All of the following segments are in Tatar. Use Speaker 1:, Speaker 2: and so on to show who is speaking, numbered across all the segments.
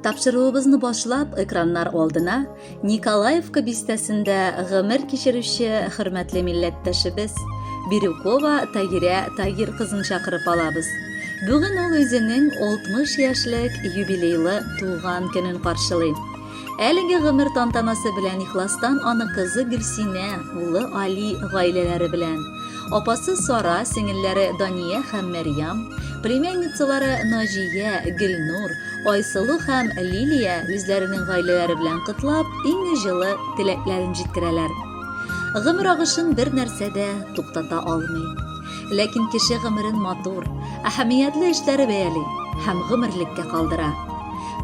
Speaker 1: Тапшыруыбызны башлап, экраннар алдына Николаевка бистәсендә гомер кичерүче хөрмәтле милләттәшебез Бирюкова Тагирә Тагир кызын чакырып алабыз. Бүген ул үзенең 60 яшьлек юбилейлы туган көнен каршылый. Әлеге гомер тантанасы белән ихластан аны кызы Гөлсинә, улы Али гаиләләре белән Апасы Сара, сеңелләре Дания һәм Мәрьям, племянницалары Наҗия, Гөлнур, Айсылу һәм Лилия үзләренең гаиләләре белән котлап, иң җылы теләкләрен җиткерәләр. Гомер агышын бер нәрсә дә туктата алмый. Ләкин кеше гомерен матур, әһәмиятле эшләре бәяли һәм гомерлеккә калдыра.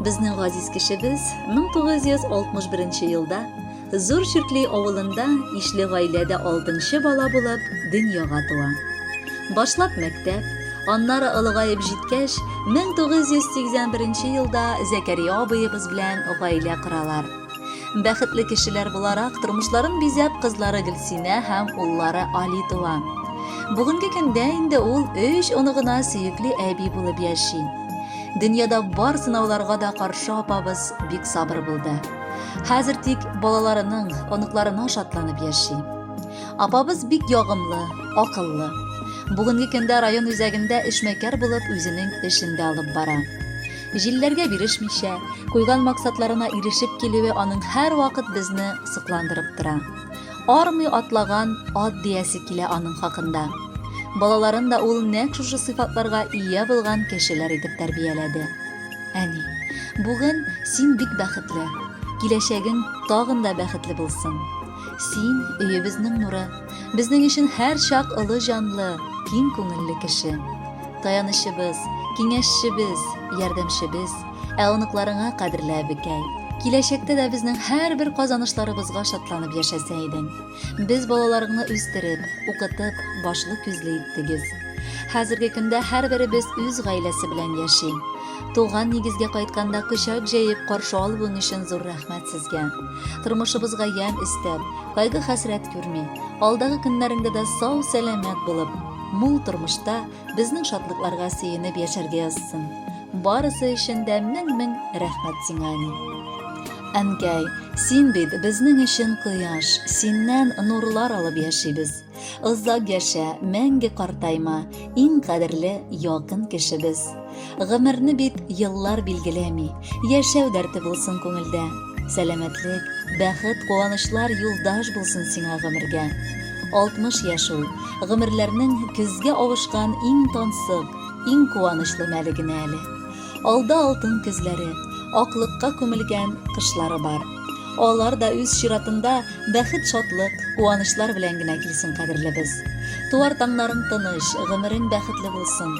Speaker 1: Безнең газиз кешебез 1961 елда Зур Чүкли авылында ишле гаиләдә алтынчы бала булып дөньяга туа. Башлап мәктәп, аннары олыгаеп җиткәч, 1981 елда Зәкәрия абыебыз белән гаилә коралар. Бәхетле кешеләр буларак тормышларын бизәп кызлары Гөлсинә һәм уллары Али туа. Бүгенге көндә инде ул өч оныгына сөекле әби булып яши. Дөньяда бар сынауларга да каршы апабыз бик сабыр булды. Хәзер тик балаларының, оныкларына шатланып яши. Апабыз бик ягымлы, акыллы. Бүгенге көндә район үзәгендә эшмәкәр булып үзенең эшен дә алып бара. Җилләргә бирешмичә, куйган максатларына ирешеп килүе аның һәрвакыт безне сокландырып тора. Армый атлаган ат диясе килә аның хакында. Балаларын да ул нәкъ шушы сыйфатларга ия булган кешеләр итеп тәрбияләде. Әни, бүген син бик бәхетле. Киләчәгең тагын да бәхетле булсын. Син, өебезнең нуры, безнең өчен һәрчак олы җанлы, киң күңелле кеше. Таянычыбыз, киңәшчебез, ярдәмчебез, ә оныкларыңа кадерле әбекәй. Киләчәктә дә безнең һәрбер казанышларыбызга шатланып яшәсә идең. Без балаларыңны үстереп, укытып, башлы күзле иттегез. Хәзерге көндә һәрберебез үз гаиләсе белән яши. Туган нигезгә кайтканда көчәк җәеп каршы алуың өчен зур рәхмәт сезгә. Тормышыбызга ямь өстәп, кайгы-хәсрәт күрми, алдагы көннәреңдә дә сау-сәламәт булып, мул тормышта Безнең шатлыкларга сөенеп яшәргә язсын. Барысы өчен дә мең-мең рәхмәт сиңа, әни. Әнкәй, син бит безнең өчен кояш, синнән нурлар алып яшибез. Озак яшә, мәңге картайма, иң кадерле, якын кешебез. Гомерне бит еллар билгеләми, яшәү дәрте булсын күңелдә. Сәламәтлек, бәхет, куанычлар юлдаш булсын сиңа гомергә. 60 яшь ул, гомерләрнең көзгә авышкан иң тансык, иң куанычлы мәле генә әле. Алда алтын көзләре, аклыкка күмелгән кышлары бар. Алар да үз чиратында бәхет шатлык, куанычлар белән генә килсен, кадерлебез. Туар таңнарың тыныч, гомерең бәхетле булсын.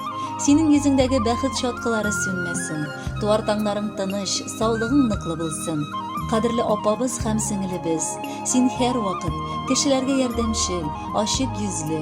Speaker 1: Синең йөзеңдәге бәхет чаткылары сүнмәсен. Туар таңнарың тыныч, саулыгың ныклы булсын. Кадерле апабыз һәм сеңелебез, син һәрвакыт кешеләргә ярдәмчел, ачык йөзле,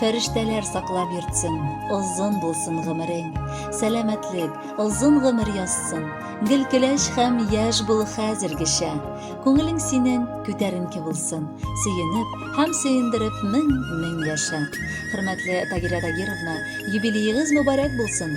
Speaker 1: Фәрештәләр саклап йөртсен, озын булсын гомерең. Сәламәтлек, озын гомер язсын. Гел көләч һәм яшь бул хәзергечә. Күңелең синең күтәренке булсын. Сөенеп һәм сөендереп мең-мең яшә. Хөрмәтле Тагирә Тагировна, юбилеегыз мөбарәк булсын!